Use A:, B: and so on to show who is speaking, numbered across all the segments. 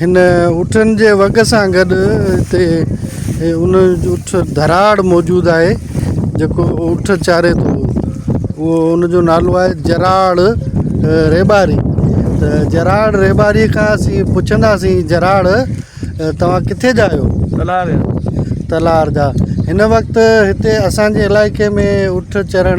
A: هن اٺن جي وڳ سان گڏ هتي ان اٺ ڌراڙ موجود آهي جيڪو اٺ چاري ٿو اهو ان جو نالو آهي جراڙ ريٻاري ته جراڙ ريٻاري کان اسين پڇنداسين جراڙ توهان ڪٿي جا آهيو تلار جا تلار جا هن وقت هتي اسانجي علائقي ۾ اٺ چرڻ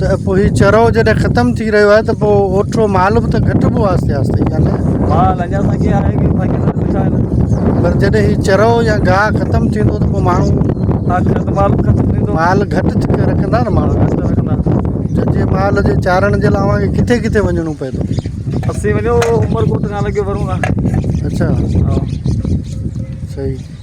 A: ته پوء هي چرؤ جڏهن ختم ٿي رهيو آهي ته پوء اوٺو مال به ته گهٽبو آهي آهستي آهستي يا نه مال اڃا اسان کي آهي
B: ڪي باقي سڀ ڏٺا آهن پر جڏهن هي چرؤ
A: يا گاهه ختم ٿيندو ته پوء ماڻهو آخر ته مال
B: ختم ٿيندو مال گهٽ ٿي
A: رکندا نه ماڻهو گهٽ رکندا
B: جنهنجي مال
A: جي چارڻ جي لاء اوهان کي ڪٿي ڪٿي وڃڻو پئي ٿو اسين وڃو
B: عمرڪوٽ کان لڳي ورون اچا
A: صحيح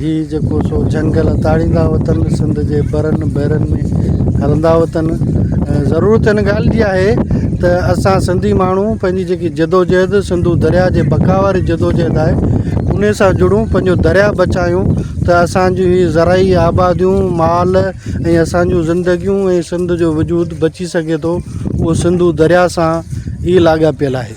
A: هي جيڪو سو جهنگل تاڙيندا وتن، سنڌ جي برن بحرن ۾ هلندا وتن. ضرورت ان ڳالهه جي آهي ته اسان سنڌي ماڻهو پنهنجي جيڪي جدوجهد سنڌو درياء جي بقا واري جدوجهد آهي انهي سان جڙون پنهنجو درياء بچايون ته اسان جون هي زرعي آباديون مال ۽ اسان جون زندگيون ۽ سنڌ جو وجود بچي سگهي ٿو اهو سنڌو درياء سان ئي لاڳاپيل آهي.